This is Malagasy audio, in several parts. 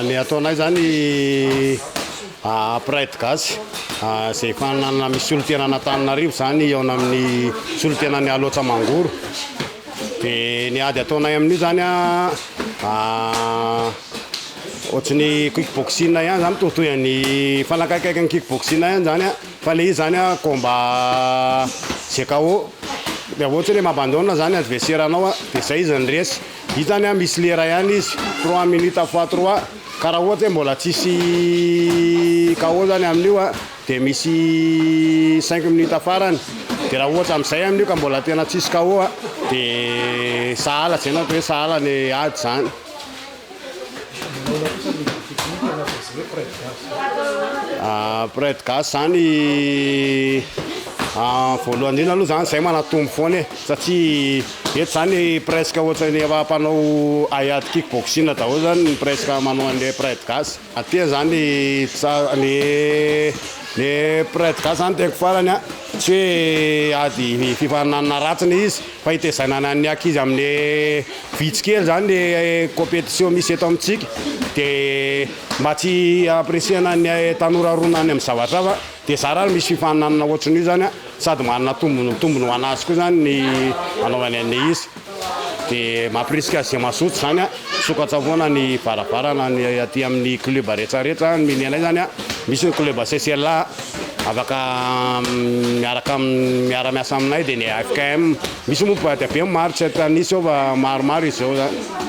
Ny ataonay zany pride gasy izay fananana misy solontenan'Antananarivo zany eo amin'ny solontenan'i Alaotra Mangoro dia ny ady ataonay amin'io zany ohatry ny kick boxing ihany zany mitohitohy an'ny mifanakaikikaiky amin'ny kick boxing ihany zany Fa le izy zany a combat GKO de avy eo tsy le m'abandonne zany adversaire anao a de zay izy ny resy. Hitany a misy lera ihany izy trois minutes fois trois ka raha ohatra hoe mbola tsisy KO zany amin'io a de misy cinq minutes farany de raha ohatra am'zay amin'io ka mbola tena tsisy KO a de sahala zay na atao hoe sahala ny ady zany. Près de gasy zany voalohany indrindra aloha zany zay manatombo foana e satria eto zany presque ohatran'ny efa mpanao haiady kick boxing daholo zany ny presque manao an'ilay près de gasy. Aty zany mpisava le le prêtre gasy zany tenko farany a, tsy hoe ady fifaninanana ratsy le izy fa hitezainana ny ankizy amle vitsy kely zany le competition misy eto amintsika de mba tsy ampirisihana ny tanora harona any am zavatra hafa de za ra misy fifaninanana ohatrin'io zany a sady manana tombony tombony ho anazy koa zany ny anaovany anle izy. dia mampirisika azy izay mazoto izany a, misokatra foana ny varavarana ny aty amin'ny club rehetra rehetra ny mini anay izany a, misy ny club CCLA afaka miaraka amin'ny miara miasa aminay dia ny AFKM, misy moa mpivady avy eo maharitra eto Tanisa eo fa maromaro izy eo izany.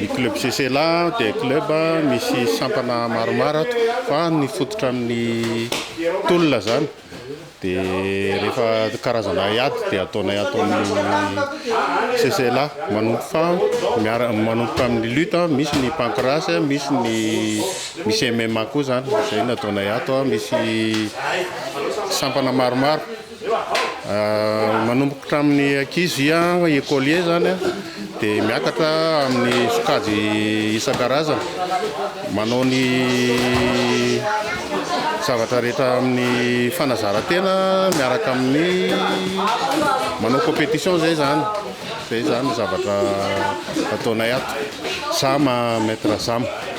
Ny Club Sesela dia club misy sampana maromaro ato fa ny mifototra amin'ny tolona izany dia rehefa karazana haiady dia ataonay ato amin'ny Sesela manomboka miara- manomboka amin'ny lutte, misy ny pancrace, misy ny. Misy MMA koa izany, izay no ataonay ato. Misy sampana maromaro, manomboka hatramin'ny ankizy, écoliers izany, dia miakatra amin'ny sokajy isan-karazany. Manao ny zavatra rehetra amin'ny fanazaran-tena miaraka amin'ny manao compétition izay izany. Izay izany ny zavatra ataonay ato, Zama, Maître Zama.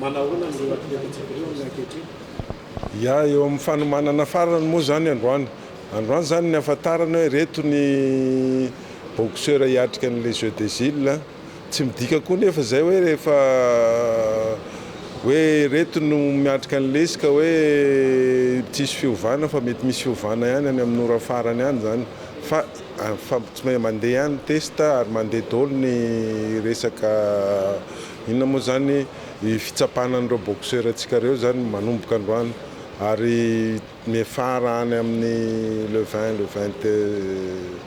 Manahoana ny aterinetontsika ireo amin'ny ankehitriny? Ia, eo amin'ny fanomanana farany moa izany androany. Androany izany ny ahafantarana hoe ireto ny boxeurs hiatrika an'ilay Jeux des Îles. Tsy midika koa nefa izay hoe rehefa hoe ireto no miatrika ny lesy ka hoe tsisy fiovana fa mety misy fiovana ihany any amin'ny ora farany any izany fa tsy maintsy mandeha ihany ny test ary mandeha daholo ny resaka inona moa izany fitsapana an'ireo boxeur antsika ireo izany manomboka androany ary Miafara any amin'ny le vingt, le vingt et,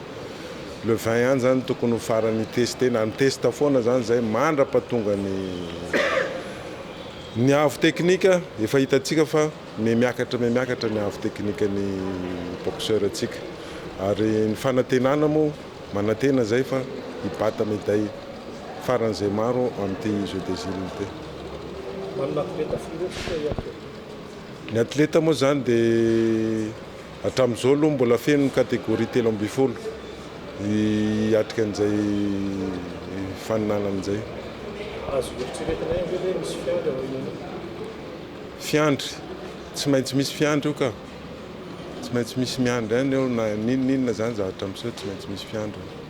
le vingt ihany izany no tokony ho farany hitester na mi-test foana izany izay mandra-pahatonga ny ny avo teknika, efa hitantsika fa mihamiakatra mihamiakatra ny avo teknikan'ny boxeur ntsika ary ny fanantenana moa manantena izay fa hibata meday faran'izay maro amin'ity jeux des iles ity. Manana athlète firery koa i Akoto. Ny atleta moa izany dia hatramin'izao aloha mbola feno ny catégorie telo ambin'ny folo hiatrika an'izay faninanana izay. Azo eritreretina ihany ve hoe misy fiandry aorian'io? Fiandry? Tsy maintsy misy fiandry io ka! Tsy maintsy misy miandry ihany eo na n'inon'inona izany zavatra miseho tsy maintsy misy fiandry eo.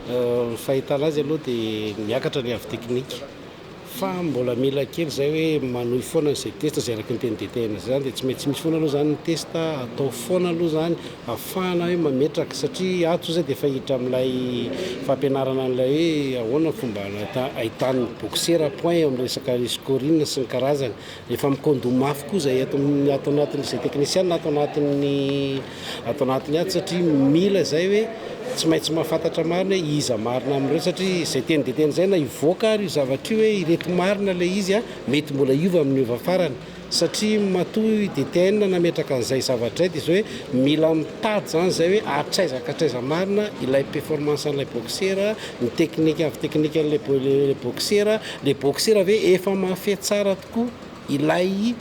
Ny fahitana azy aloha dia miakatra ny avy teknika. Fa mbola mila kely izay hoe manohy foana izay test izay araka ny teny detail-na izay izany dia tsy maintsy misy foana aloha izany ny test atao foana aloha izany hahafahana hoe mametraka satria ato izay dia efa hiditra amin'ilay fampianarana an'ilay hoe ahoana ny fomba ahitany boxer point eo amin'ny resaka scoring sy ny karazany Efa mikondoa mafy koa izay ato ato anatin'ny izay teknisiana ato anatin'ny ato anatiny ato satria mila izay hoe tsy maintsy mahafantatra marina hoe iza marina amin'ireo satria izay teny dia teny izay na hivoaka ary io zavatra io hoe ireto marina ilay izy a mety mbola hiova amin'ny hiova farany satria matoa i DTN nametraka an'izay zavatra izay dia izao hoe mila mitady izany izay hoe hatraiza ka hatraiza marina ilay performance an'ilay boxeur ny teknika avy teknikan'ilay boxeur Le boxer ve efa mafe tsara tokoa ilay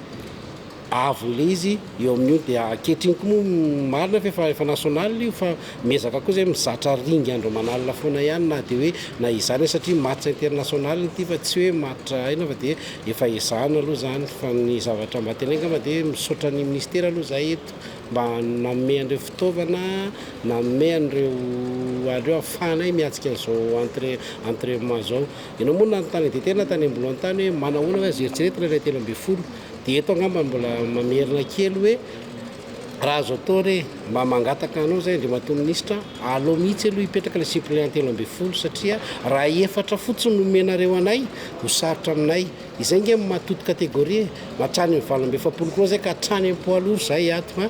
avony le izy eo amin'io dia ankehitriny koa moa marina ve fa efa national io fa miezaka koa zay mizatra ring andromanalina foana ihany na dia hoe na izany aza satria match international ity fa tsy hoe match aina fa dia efa ezahana aloha zany fa ny zavatra mba teneniko angamba dia misaotra ny ministera aloha za eto mba nanome an'ireo fitaovana nanome an'ireo an'ireo afahanay miatrika an'izao entre- entrainement zao Ianao moa nanontany an'i Tetela tany am-boalohany tany hoe manahoana hoe azo eritreretina ilay telo ambin'ny folo, dia eto angamba mbola mamerina kely hoe raha azo atao re mba mangataka anao izay Andriamatoa Minisitra, alao mihitsy aloha hipetraka ilay suppléant telo ambin'ny folo satria raha efatra fotsiny no omenareo anay, ho sarotra aminay. Izay nge no maha toute catégorie e! Hatrany amin'ny valo amby efapolo koa izay ka hatrany amin'ny poids lourd izay ato.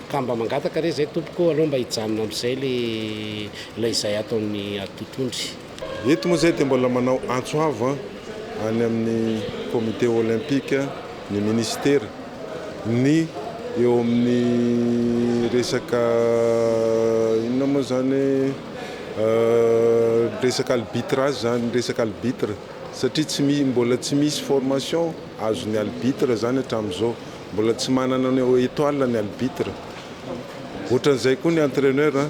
Ka mba mangataka re zay tompoko alou mba hijanona amzay le ilay zay ataon'ny atotondry. Eto moa zay dia mbola manao antso avo an any amin'ny comité olympique ny minisitera ny eo amin'ny resaka inona moa zany resaka albitrage zany resaka albitre satria tsy mbola tsy misy formation azon'ny albitre zany hatramin'izao Mbola tsy manana ny étoile ny albitre. Ohatran'izay koa ny entraineur an!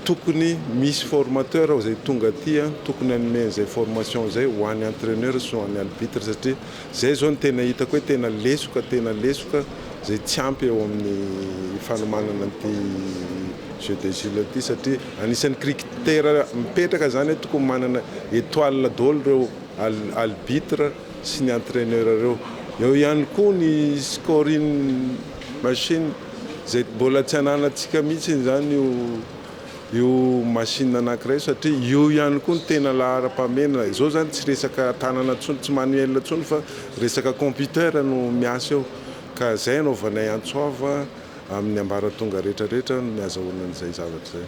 Tokony misy formateur izay tonga aty an! Tokony hanome an'izay formation izay ho an'ny entraineur sy ho an'ny albitre satria izay izao no tena hitako hoe tena lesoka tena lesoka izay tsy ampy eo amin'ny fanomanana an'ity jeux de Gilles ity satria anisan'ny crictera mipetraka izany hoe tokony manana étoile daholo ireo albitre sy ny entraineur ireo. Eo ihany koa ny scoring machine izay mbola tsy ananantsika mihitsy izany io io machine anankiray satria io ihany koa no tena laharam-pahamehana. Izao izany tsy resaka tanana intsony, tsy manuel intsony fa resaka computer no miasa eo. Ka izay anaovanay antso avo amin'ny ambaratonga rehetra rehetra ny azahoana an'izay zavatra izay.